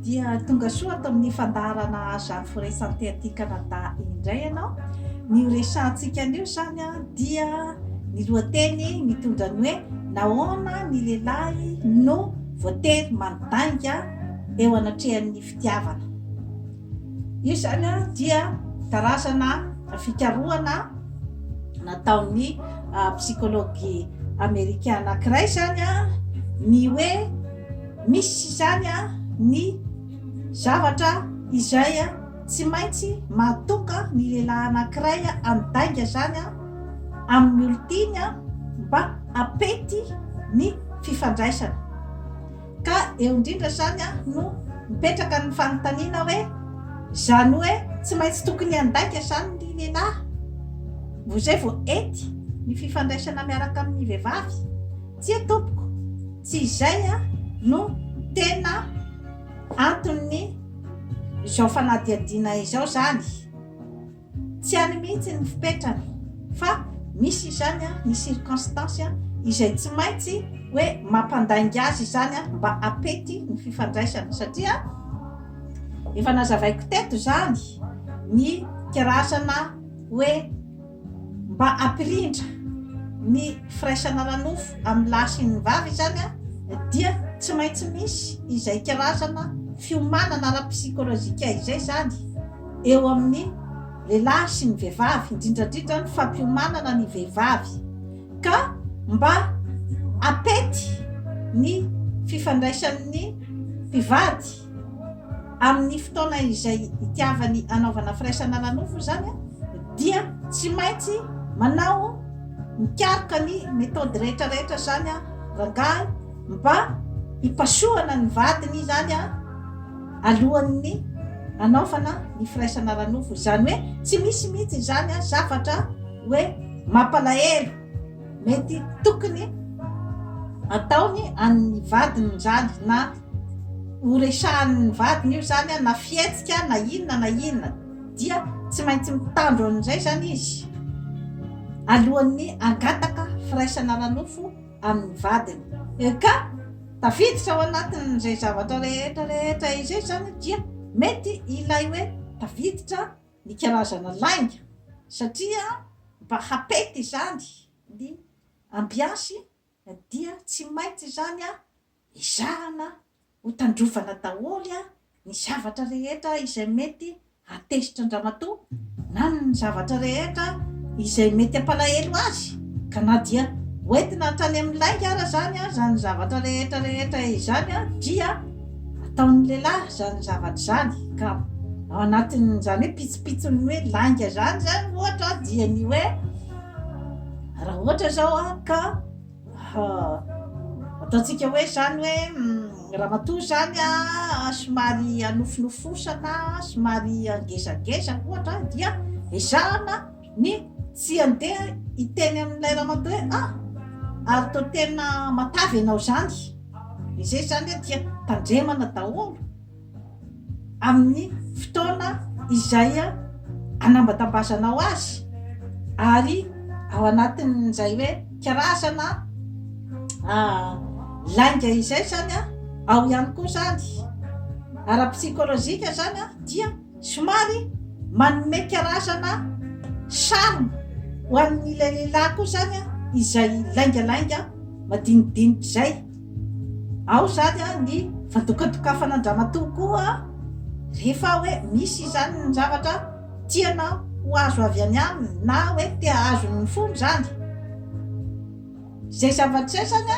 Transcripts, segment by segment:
Dia tonga soa ato amin'ny fandaharana Aza Firesan'ty aty Canada indray ianao. Ny ho resahantsika anio izany dia ny lohateny mitondra ny hoe Nahoana ny lehilahy no voatery mandainga eo anatrehan'ny fitiavana. Io izany dia karazana fikarohana nataon'ny psikology amerikana anankiray izany ny hoe. Misy izany ny zavatra izay tsy maintsy mahatonga ny lehilahy anankiray handainga izany amin'ny olon-tiany mba hampety ny fifandraisana. Ka eo indrindra izany no mipetraka ny fanontaniana hoe, izany hoe tsy maintsy tokony handainga izany ny lehilahy vao izay vao hety ny fifandraisana miaraka amin'ny vehivavy? Tsia tompoko! Tsy izay no tena anton'ny izao fanadihadiana izao izany. Tsy any mihitsy ny fipetrany fa misy izany ny circonstance izay tsy maintsy hoe mampandainga azy izany mba apety ny fifandraisana satria efa nazavaiko teto izany ny karazana hoe Mba hampirindra ny firaisana ara-nofo amin'ny lahy sy ny vavy izany dia tsy maintsy misy izay karazana fiomanana ara-psikolojika izay izany eo amin'ny lehilahy sy ny vehivavy, indrindra indrindra ny fampiomanana ny vehivavy ka mba hampety ny fifandraisan'ny mpivady. Amin'ny fotoana izay itiavany hanaovana firaisana ara-nofo izany dia tsy maintsy manao, mikaroka ny methode rehetra rehetra izany rangahy mba hipasohana ny vadiny izany alohan'ny hanaovana ny firaisana ara-nofo. Izany hoe tsy misy mihitsy izany zavatra hoe mampalahelo mety tokony ataony an'ny vadiny izany na horesahan'ny vadiny io zany na fihetsika na inona na inona dia tsy maintsy mitandro an'izay zany izy alohan'ny angataka firaisana ara-nofo amin'ny vadiny eh, ka tafiditra ao anatin'izay zavatra rehetra rehetra izay zany dia mety ilay hoe tafiditra ny karazana lainga satria mba hapety izany ny ambiansy dia tsy maintsy izany a Ezahana ho tandrovana daholo ny zavatra rehetra izay mety hahatezitra an-dramatoa na ny zavatra rehetra izay mety hampalahelo azy ka na dia hoentina hatrany amin'ny lainga ara izany izany zavatra rehetra rehetra izany dia ataon'ny lehilahy izany zavatra izany ka ao anatin'izany hoe pitsopitson'ny hoe lainga izany izany ohatra dia ny hoe raha ohatra izao ka Ha, ataontsika hoe izany hoe ramatoa izany somary hanofinofosana, somary ngezangeza ohatra dia ezahana ny tsy handeha hiteny amin'ilay ramatoa hoe ah ary toa tena matavy ianao izany, dia izay izany dia tandremana daholo. amin'ny fotoana izay anambatambasanao azy ary ao anatin'izay hoe karazana lainga izay zany a ao ihany koa zany ara-psikolojika zany a dia somary manome karazana charme ho an'ilay lehilahy koa zany a izay laingalainga madinidinitr'izay Ao izany ny fandokandokafana an-dramatoa koa rehefa hoe misy izany ny zavatra tiana ho azo avy any aminy na hoe te hahazo ny fony izany. Izay zava-drisay izany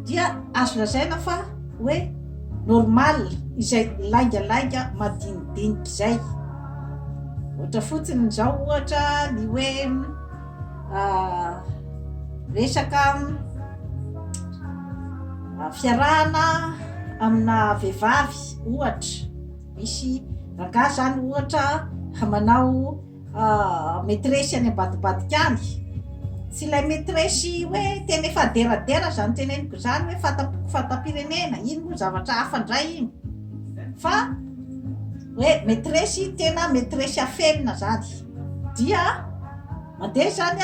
dia azo lazaina fa hoe normal, izay laingalainga madinidinika izay. Ohatra fotsiny izao ohatra ny hoe. resaka fiarahana amina vehivavy ohatra misy rangah zany ohatra hamanao metresy any ambadibadika any tsy ilay metresy hoe tena efa deradera zany teneniko zany hoe fataboko fatam-pirenena iny moa zavatra hafa ndray iny fa hoe metresy tena metresy afenina zany Dia mandeha izany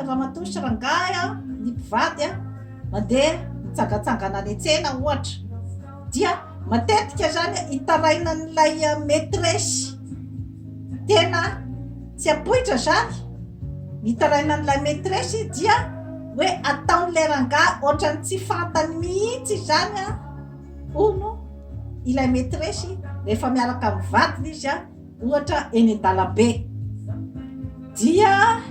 ramatoa sy rangahy ny mpivady mandeha mitsangatsangana any an-tsena ohatra, dia matetika izany hitarainan'ilay maîtresse tena tsy ampoitra izany, hitarainan'ilay maîtresse dia hoe ataon'ilay rangahy ohatran'ny tsy fantany mihitsy izany hono ilay maîtresse rehefa miaraka amin'ny vadiny izy. Ohatra eny an-dalambe. Dia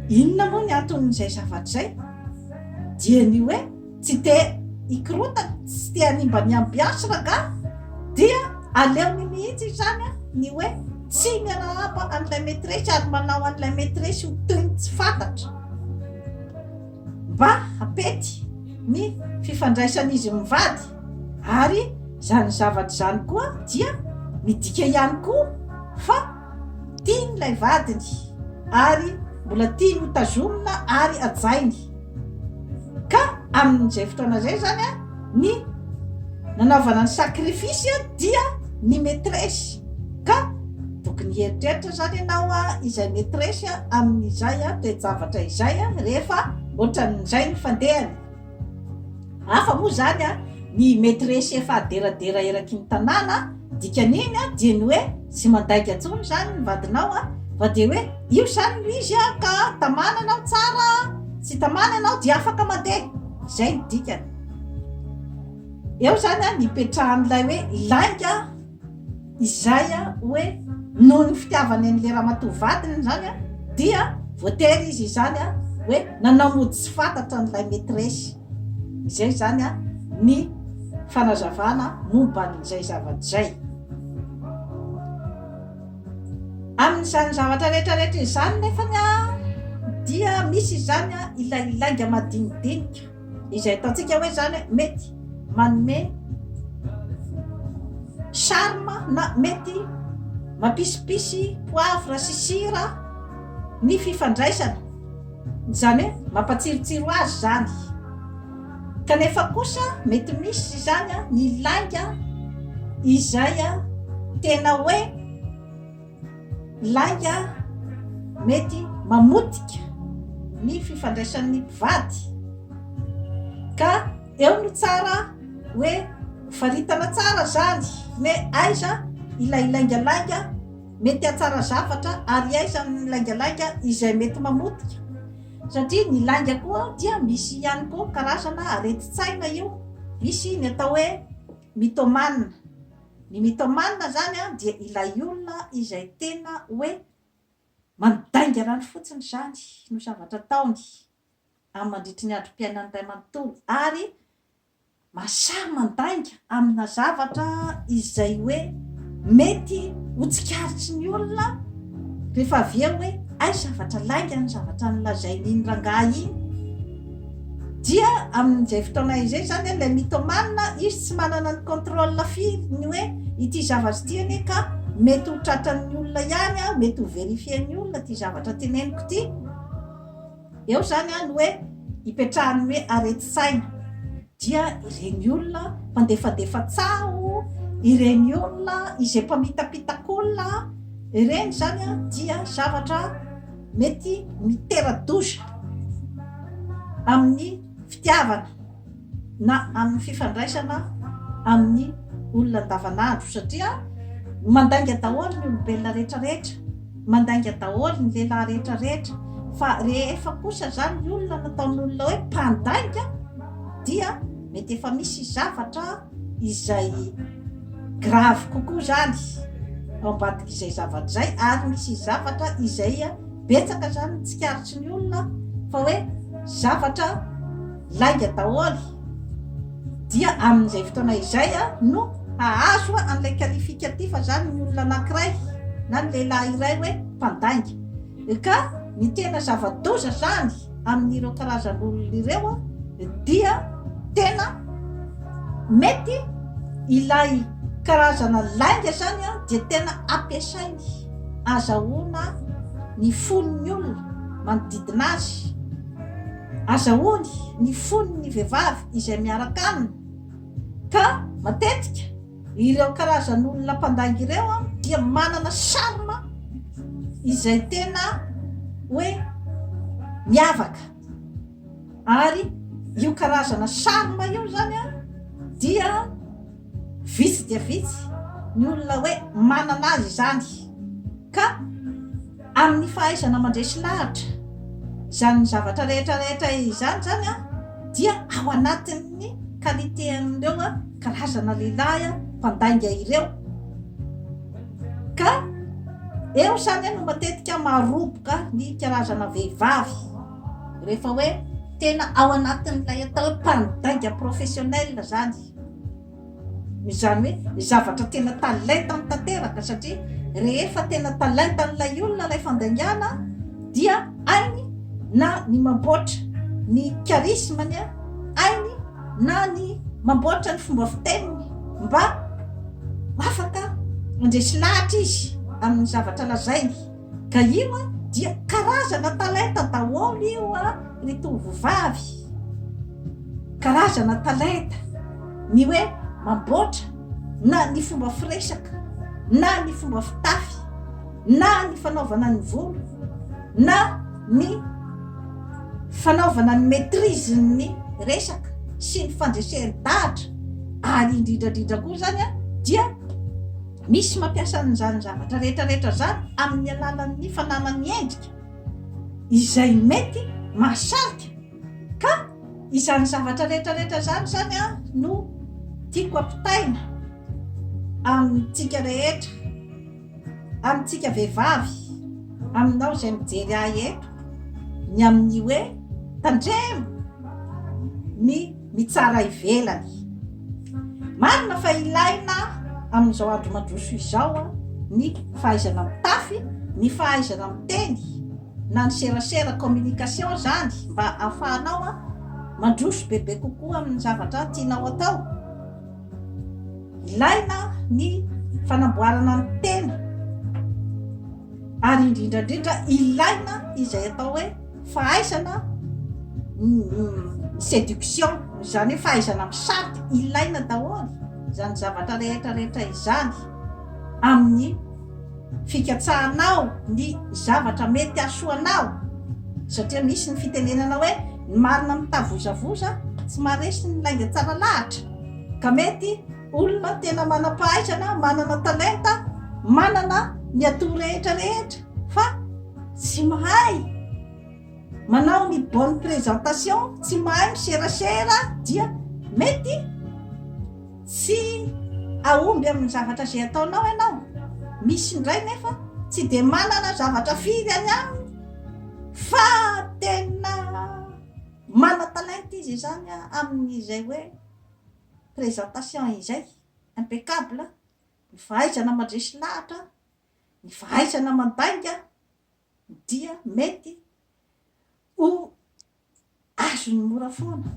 inona moa ny anton'izay zavatra izay? Dia ny hoe tsy te hikorontana, tsy te hanimba ny ambiansy rangahy, dia aleony mihitsy izany ny hoe tsy miarahaba an'ilay maîtresse ary manao an'ilay maîtresse ho toy ny tsy fantatra. mba hampety ny fifandraisan'izy mivady ary izany zavatra izany koa dia midika ihany koa fa tiany ilay vadiny ary mbola tiany hotazomina ary hajainy ka amin'izay fotoana izay izany a ny nanaovana ny sacrifice dia ny metresy ka tokony hieritreritra zany ianao a izay metresy a amin'izay a toe-javatra izay a rehefa ohatran'izay ny fandehany hafa moa zany a ny metresy efa aderadera eraky ny tanàna dikan'iny a dia ny hoe tsy mandainga tsony zany ny vadinao a fa dia hoe io zany no izy a ka tamana ianao tsara a tsy tamana ianao dia afaka mandeha Izay ny dikany. Eo izany an, nipetrahan'ilay hoe lainga izay an, hoe noho ny fitiavany an'ilay ramatoa vadiny izany an, dia voatery izy izany an, hoe nanao mody tsy fantatra an'ilay maîtresse. Izay izany an, ny fanazavana momba an'izay zavatra izay. Amin'izany zavatra rehetrarehetra izany nefany dia misy izany ilay lainga madinidinika izay ataontsika hoe izany mety manome charme na mety mampisy poivre sy sira ny fifandraisana, izany hoe mampatsirotsiro azy izany. Kanefa kosa mety misy izany ny lainga izay tena hoe lainga mety mamotika ny fifandraisan'ny mpivady ka eo no tsara hoe faritana tsara izany hoe aiza ilay lainga lainga mety hatsara zavatra ary aiza ny lainga lainga izay mety mamotika. Satria ny lainga koa dia misy ihany koa karazana aretin-tsaina io, misy ny atao hoe mythomane, ny mythomane zany dia ilay olona izay tena hoe mandaingarano fotsiny zany no zavatra ataony amin'ny mandritry ny androm-piainany iray manontolo ary Masahy mandainga amina zavatra izay hoe mety ho tsikaritry ny olona rehefa avy eo hoe hay zavatra lainga ny zavatra nolazain'iny rangahy iny. Dia amin'izay fotoana izay izany ilay mythomane izy tsy manana ny contrôle firy ny hoe ity zavatra ity anie ka mety ho tratran'ny olona ihany, mety ho verifier-n'ny olona ity zavatra teneniko ity. Eo izany ny hoe ipetrahan'ny hoe aretin-tsaina dia ireny olona mpandefandefa tsaho, ireny olona izay mpamitapitakolona, ireny izany dia zavatra mety mitera-doza amin'ny fitiavana. na amin'ny fifandraisana amin'ny olona andavanandro satria mandainga daholo ny olombelona rehetra rehetra, mandainga daholo ny lehilahy rehetra rehetra fa rehefa kosa izany ny olona nataon'olona hoe mpandainga dia mety efa misy zavatra izay grave kokoa izany ao ambadik'izay zavatra izay ary misy zavatra izay betsaka izany ny tsikaritry ny olona fa hoe zavatra lainga daholo dia amin'izay fotoana izay no hahazo an'ilay qualificatif zany ny olona anankiray na ny lehilahy iray hoe mpandainga ka ny tena zava-doza zany amin'ireo karazan'olona ireo dia tena mety ilay karazana lainga zany a dia tena ampiasainy azahoana ny fon'ny olona manodidina azy Azahoany ny fon' ny vehivavy izay miaraka aminy, ka matetika ireo karazan' olona mpandainga ireo dia manana charme izay tena hoe miavaka, ary io karazana charme io izany dia vitsy dia vitsy ny olona hoe manana azy izany ka. Amin'ny fahaizana mandresy lahatra izany zavatra rehetra rehetra izany izany an, dia ao anatin'ny qualité an'ireo karazana lehilahy mpandainga ireo. Ka eo izany no matetika maroboka ny karazana vehivavy rehefa hoe tena ao anatin'ilay atao hoe mpandainga professionnel izany. Izany hoe ny zavatra tena talentany tanteraka satria rehefa tena talentan'ilay olona ilay fandaingana dia hainy na ny mamboatra ny charisme-ny, hainy na ny mamboatra ny fomba fiteniny mba afaka handresy lahatra izy amin'ny zavatra lazainy. Ka io an dia karazana talenta daholo io an ry tovovavy, karazana talenta, ny hoe mamboatra na ny fomba firesaka na ny fomba fitafy na ny fanaovana ny volo na ny fanaovana ny maitrise ny resaka sy ny fandresehany dahatra ary indrindrandrindra koa zany an dia Misy mampiasa an'izany zavatra rehetra rehetra izany amin'ny alalan'ny fananany endrika izay mety mahasarika ka izany zavatra rehetra rehetra izany izany no tiako ampitaina amintsika rehetra, amintsika vehivavy, aminao izay mijery ahy eto ny amin'ny hoe tandremo ny ny tsara ivelany. Marina fa ilaina amin'izao andro mandroso izao ny fahaizana mitafy, ny fahaizana miteny na ny serasera, communication, izany mba ahafahanao mandroso bebe kokoa amin'ny zavatra tianao atao. Ilaina ny fanamboarana ny tena. Ary indrindra indrindra ilaina izay atao hoe fahaizana seduction, izany hoe fahaizana misarika, ilaina daholo izany zavatra rehetra rehetra izany amin'ny fikatsahanao ny zavatra mety hasoanao satria misy ny fitenenana hoe ny marina mitavozavoza tsy maharesy ny lainga tsara lahatra ka mety Olona tena manam-pahaizana, manana talenta, manana ny atout rehetra rehetra fa tsy mahay manao ny bonne présentation, tsy mahay miserasera dia mety tsy ahomby amin'ny zavatra izay ataonao ianao. Misy indray nefa tsy dia manana zavatra firy any aminy fa tena mana-talenta izy izany amin'izay hoe présentation izay impeccable, ny fahaizana mandresy lahatra, ny fahaizana mandainga dia mety ho azony mora foana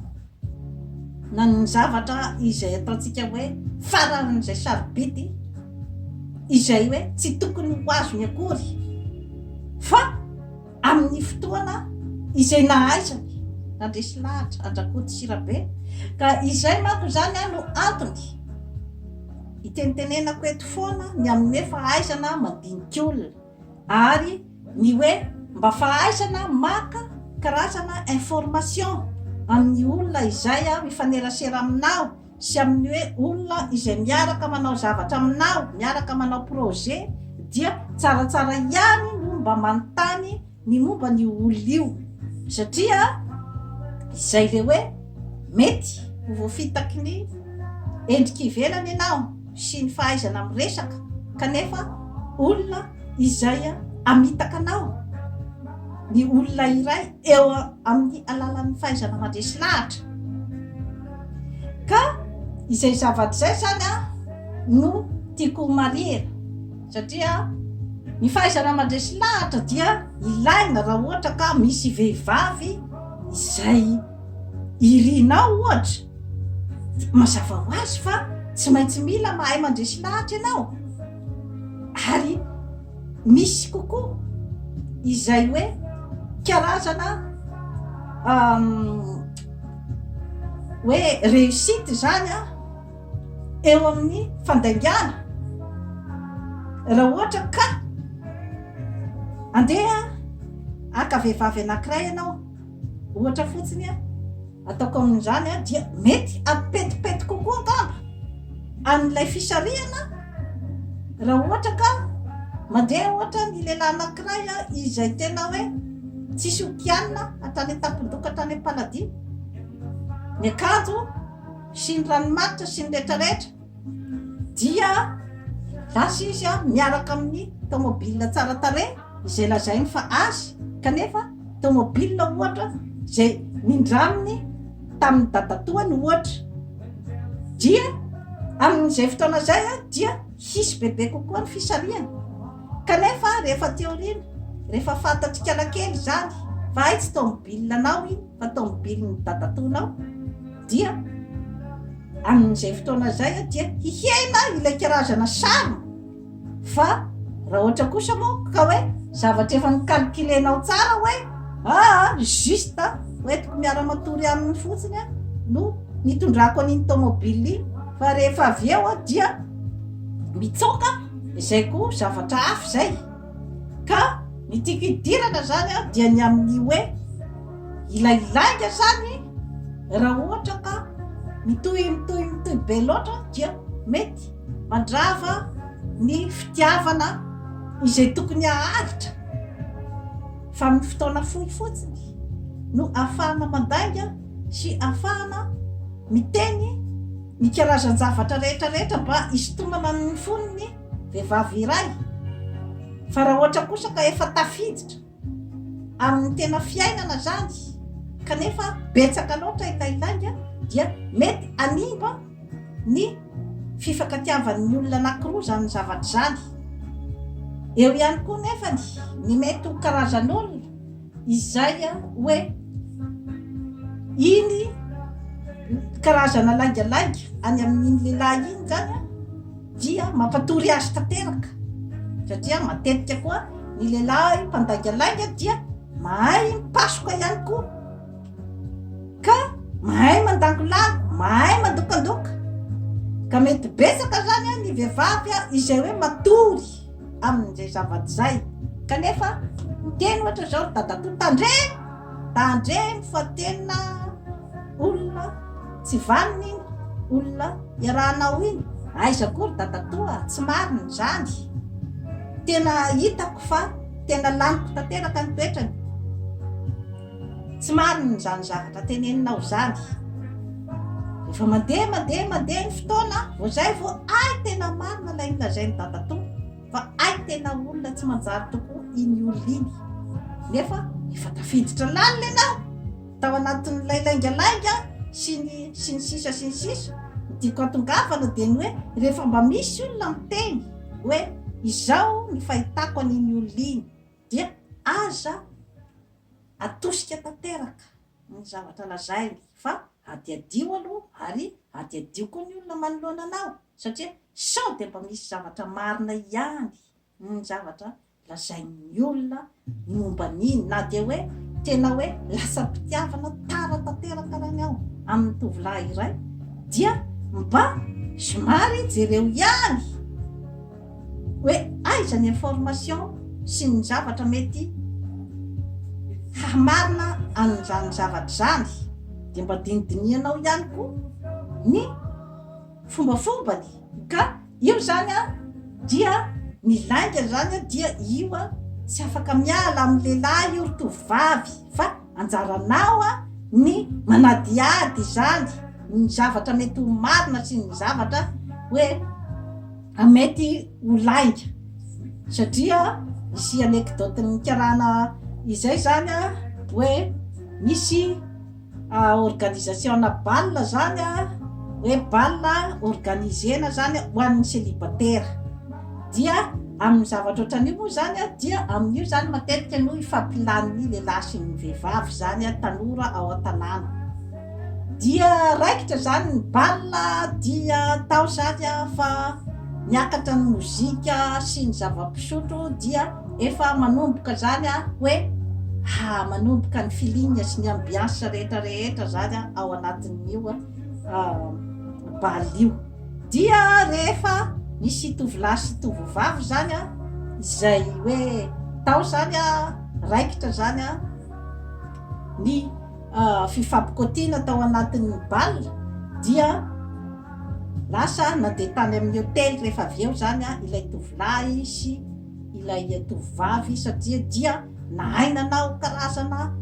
na ny zavatra izay ataontsika hoe faran'izay sarobidy izay hoe tsy tokony ho azony akory fa Amin'ny fotoana izay nahaizany nandresy lahatra an-dRakoto sy Rabe ka izay manko izany no antony hitenitenenako eto foana ny amin'ny hoe fahaizana mandinika olona ary ny hoe mba fahaizana maka karazana information amin'ny olona izay mifanerasera aminao sy amin'ny hoe olona izay miaraka manao zavatra aminao, miaraka manao projet, dia tsaratsara ihany no mba manontany ny momba an'io olona io, satria izay le hoe mety ho voafitaky ny endrika ivelany ianao sy ny fahaizana miresaka kanefa olona izay amitaka anao ny olona iray. eo amin'ny alalan'ny fahaizana mandresy lahatra ka izay zavatra izay izany a no tiako ho marihina satria ny fahaizana mandresy lahatra dia ilaina raha ohatra ka misy vehivavy izay irinao ohatra mazava ho azy fa tsy maintsy mila mahay mandresy lahatra ianao ary misy kokoa izay hoe karazana hoe réussite izany a eo amin'ny fandaingana raha ohatra ka andeha haka vehivavy anankiray ianao Ohatra fotsiny ataoko amin'izany dia mety hampetipety kokoa angamba an'ilay fisarihana raha ohatra ka mandeha ohatra ny lehilahy anankiray izay tena hoe tsisy okianina atany an-tampon-doka tany am-paladia ny akanjo sy ny ranomanitra sy ny rehetrarehetra dia lasa izy miaraka amin'ny tomobil tsara tarehy izay lazainy fa azy kanefa tomobil ohatra izay nindraminy tamin'ny dadatoany ohatra dia amin'izay fotoana izay a dia hisy bebe kokoa ny fisarihana kanefa rehefa aty aoriana rehefa fantatsika lakely izany fa hay tsy tomobilanao iny fa tomobilin'ny dadatoanao dia amin'izay fotoana izay a dia hihena ilay karazana sary fa raha ohatra kosa moa ka hoe zavatra efa nicalculenao tsara hoe aa juste hoentiko miara-matory aminy fotsiny a no nitondrako an'iny tomobile iny fa rehefa avy eo a dia mitsoka izay koa zavatra hafa izay Ka ny tiako hidirana izany an, dia ny amin'ny hoe ilay lainga izany raha ohatra ka mitohy mitohy mitohy be loatra dia mety mandrava ny fitiavana izay tokony haharitra fa amin'ny fotoana fohy fotsiny no afahana mandainga sy afahana miteny ny karazan-javatra rehetra rehetra mba hisintonana ny fonony Vehivavy iray. Fa raha ohatra kosa ka efa tafiditra amin'ny tena fiainana izany kanefa betsaka loatra ilay lainga dia mety hanimba ny fifankatiavan'ny olona anankiroa izany zavatra izany. Eo ihany koa nefany ny mety ho karazan'olona izay hoe iny karazana laingalainga any amin'iny lehilahy iny izany dia mampatory azy tanteraka satria matetika koa ny lehilahy mpandaingalainga dia mahay mipasoka ihany koa ka mahay mandangolahy mahay mandokandoka ka mety betsaka zany a ny vehivavy a izay hoe matory amin'izay zavatra izay. Kanefa miteny ohatra izao ry dadatoa, tandremo! Tandremo fa tena olona tsy vanona iny, olona iarahanao iny. Aiza koa ry dadatoa, tsy marina izany. Tena hitako fa tena laniko tanteraka ny toetrany. Tsy marina izany zavatra teneninao izany. Rehefa mandeha mandeha mandeha ny fotoana, vao zay vao hay tena marina ilay nolazain'i Dadatoa fa hay tena olona tsy manjary tokoa iny olona iny. Nefa efa tafiditra lalina ianao tao anatin'ilay laingalainga sy ny sy ny sisa sy ny sisa. Ny tiako atongavana dia ny hoe rehefa mba misy olona miteny hoe izao ny fahitako an'iny olona iny dia aza Atosika tanteraka ny zavatra lazainy fa hadihadio aloha ary hadihadio koa ny olona manoloana anao satria sao dia mba misy zavatra marina ihany ny zavatra lazain'ny olona momba an'iny na dia hoe tena hoe lasam-pitiavana tara tanteraka arany aho amin'ny tovolahy iray dia mba somary jereo ihany hoe aiza ny information sy ny zavatra mety hahamarina an'izany zavatra izany dia mba dinidinihanao ihany koa ny fombafombany ka io izany a dia ny lainga izany dia io a tsy afaka miala amin'ny lehilahy io ry tovovavy fa Anjaranao ny manadihady izany, ny zavatra mety ho marina sy ny zavatra hoe mety ho lainga. Satria misy anecdote nikarana izay zany hoe misy organisation-na bal zany hoe bal organisena zany ho an'ny célibataire. Dia amin'ny zavatra ohatran'io moa izany dia amin'io izany matetika no ifampilan'ny lehilahy sy ny vehivavy izany tanora ao an-tanàna. Dia raikitra izany ny bal dia atao izany fa miakatra ny mozika sy ny zava-pisotro dia efa manomboka izany hoe ha manomboka ny feeling sy ny ambiance rehetra rehetra izany ao anatin'io bal io. Dia rehefa nisy tovolahy sy tovovavy izany izay hoe tao izany raikitra izany ny fifampikoatiana tao anatin'ny bal dia lasa nandeha tany amin'ny hotely rehefa avy eo izany ilay tovolahy sy ilay tovovavy satria dia Nahay nanao karazana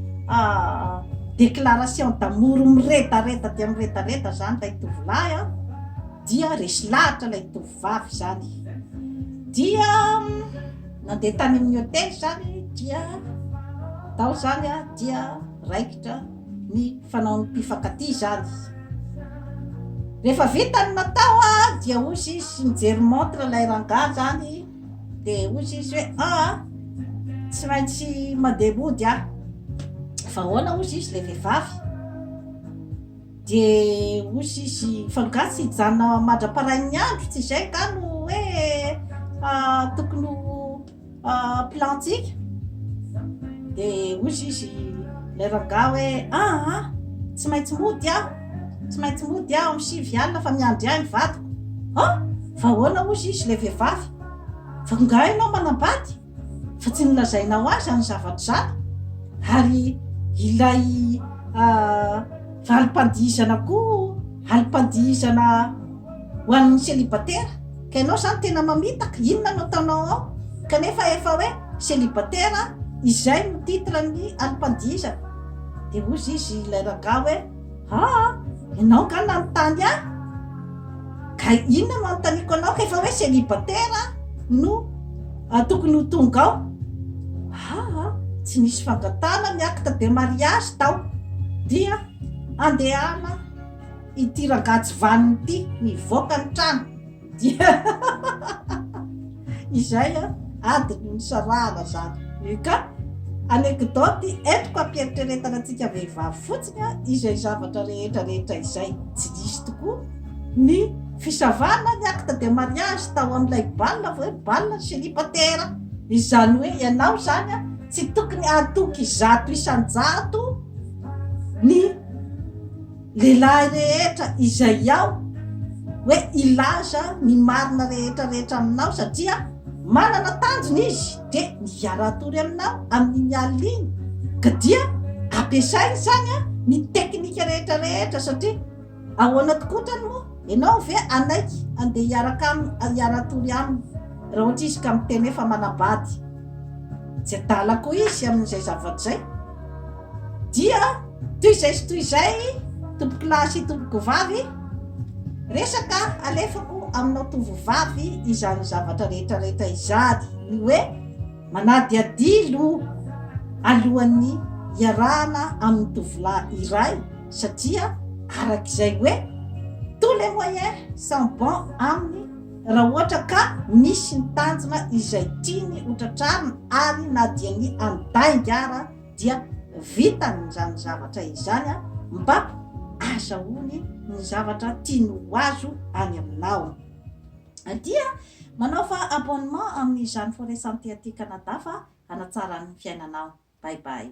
déclaration d'amour miredareda dia miredareda izany ilay tovolahy an, dia resy lahatra ilay tovovavy izany, dia nandeha tany amin'ny hotely izany dia tao izany an dia raikitra ny fanaon'ny mpifankatia izany. Rehefa vita ny natao an dia hoy izy sy nijery montre ilay rangahy izany. dia hoy izy hoe aa tsy maintsy mandeha mody aho fa ahoana hoy izy ilay vehivavy dia hoy izy fa nga tsy hijanona mandra-parain'ny andro tsy izay nga no hoe ah, tokony ho ah, plantsika dia hoy izy ilay rangahy hoe aa ah, ah, tsy maintsy mody aho Tsy maintsy mody aho amin'ny sivy alina fa miandry ahy ny vadiko. Ah! Fa ahoana hozy izy ilay vehivavy? Fa angaha ianao manambady? Fa tsy nolazainao ahy izany zavatra izany? Ary ilay valim-pandihizana koa, alim-pandihizana ho an'ny célibataire. Ka ianao izany tena mamitaka, inona no ataonao ao? Kanefa efa hoe célibataire, izay no titre-n'ny alim-pandihizana. Dia hozy izy ilay rangahy hoe. Aa! ianao nga nanontany ahy? ka inona no anontaniako anao ka efa hoe célibataire no tokony ho tonga ao? aa! tsy nisy fangatahana ny acte de mariage tao dia andehana ity rangahy tsy vanona ity mivoaka ny trano Dia izay an, adiny nisarahana zany. Io ka, anekdoty entiko hampiheritreretana antsika vehivavy fotsiny an, izay zavatra rehetra rehetra izay. Tsy nisy tokoa ny fisavana ny acte de mariage tao amin'ilay bal vao hoe bal célibataire. Izany hoe ianao izany an, tsy tokony hatoky zato isan-jato ny. Lehilahy rehetra izay ao hoe hilaza ny marina rehetra rehetra aminao satria manana tanjona izy dia ny hiara-hatory aminao amin'iny alina iny ka dia ampiasainy izany a ny teknika rehetra rehetra satria ahoana tokoa otrany moa ianao ve hanaiky andeha hiaraka aminy hiara-hatory aminy raha ohatra izy ka miteny hoe fa manabady tsy adala koa izy amin'izay zavatra izay Dia toy izay sy toy izay tompoko lahy sy tompoko vavy, resaka alefako aminao tovovavy izany zavatra rehetra rehetra izany, ny hoe manadihadihy loha alohan'ny hiarahana amin'ny tovolahy iray satria arak'izay hoe tous les moyens sont bons aminy Raha ohatra ka misy ny tanjona izay tiany ho tratrarina ary na dia ny andainga ara dia vitany izany zavatra izany mba azahoany ny zavatra tiany ho azo any aminao dia manaova abonnement amin'ny Jeanne Forêt Santé aty Canada fa hanatsara ny fiainanao. Bye bye.